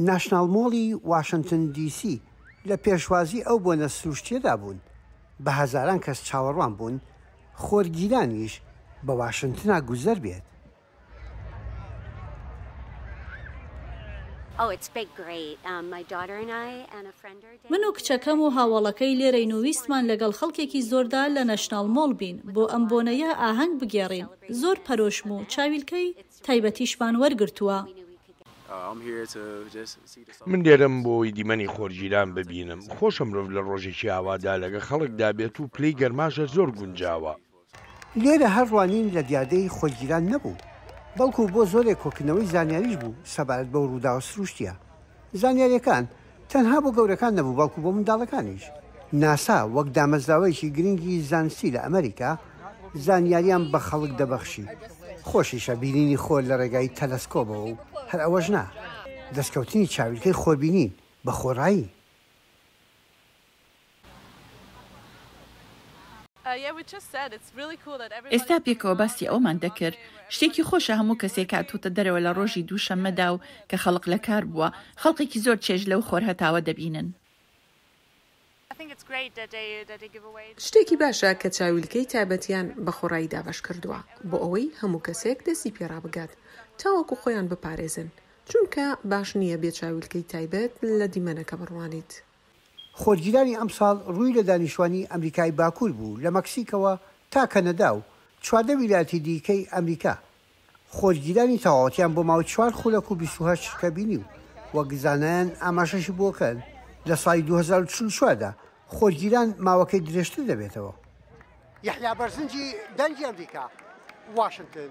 ناشناڵ مۆڵی واشنتن دی سی لە پێشوازی ئەو بۆنە سروشتیەدا بوون، بە هەزاران کەس چاوەڕوان بوون خۆرگیرانیش بە واشنتنا گوزەر بێت. من و کچەکەم و هاوەڵەکەی لێرەین و ویستمان لەگەڵ خەڵکێکی زۆردا لە ناشناڵ مۆڵ بین بۆ ئەم بۆنەیە ئاهەنگ بگێڕین، زۆر پەرۆشم و چاویلکەی. تایبەتیشمان وەرگرتووە. من لێرەم بۆ ئەوەی دیمەنی خۆرگیران ببینم. خۆشە مرۆڤ لە ڕۆژێکی ئاوادا لەگە خەڵکدا بێت و پلەی گەرماش هەر زۆر گونجاوە. لێرە هەر ڕوانین لە دیاردەی خۆرگیران نەبوو، بەڵکو بۆ زۆرێک کۆکردنەوەی زانیاریش بوو سەبارەت بەو ڕووداوە سروشتییە. زانیارییەکان تەنها بۆ گەورەکان نەبوو بەڵکو بۆ منداڵەکانیش. ناسا وەک دامەزراوەیەکی گرنگی زانستی لە ئەمەریکا، زانیارییان بە خەڵک دەبەخشی. خۆشیشە بینینی خۆر لە ڕێگای تەلەسکۆبەوە و هەر ئەوەش نا، دەستکەوتنی چاویلکەی خۆربینین بە خۆڕایی. ئێستا پێکەوە باسی ئەوەمان دەکرد، شتێکی خۆشە هەموو کەسێک هاتووتە دەرەوە لە ڕۆژی دووشەممەدا و کە خەڵک لە کار بووە، خەڵکێکی زۆر چێژ لەو خۆرهەتاوە دەبینن. شتێکی باشە کە چاویلکەی تایبەتیان بە خۆڕایی دابەش کردووە بۆ ئەوەی هەموو کەسێک دەستی پێ ڕابگات تاوەکو خۆیان بپارێزن، چونکە باش نییە بێ چاویلکەی تایبەت لە دیمەنەکە بڕوانیت. خۆرگیرانی ئەمساڵ رووی لە دانیشتوانی ئەمریکای باکوور بوو لە مەکسیکەوە تا کەنەدا و چواردە ویلایەتی دیکەی ئەمریکا، خۆرگیرانی تەواوەتیان بۆ ماوەی چوار خولەک و بیست و هەشت چرکە بینی و وەک زانایان ئاماژەشی بۆ کەن لە ساڵی دوو هەزار و چل و چوار دا خۆرگیران ماوەکەی درێژتر دەبێتەوە. یەحیا بەرزنجی، دەنگی ئەمریکا، واشنتن.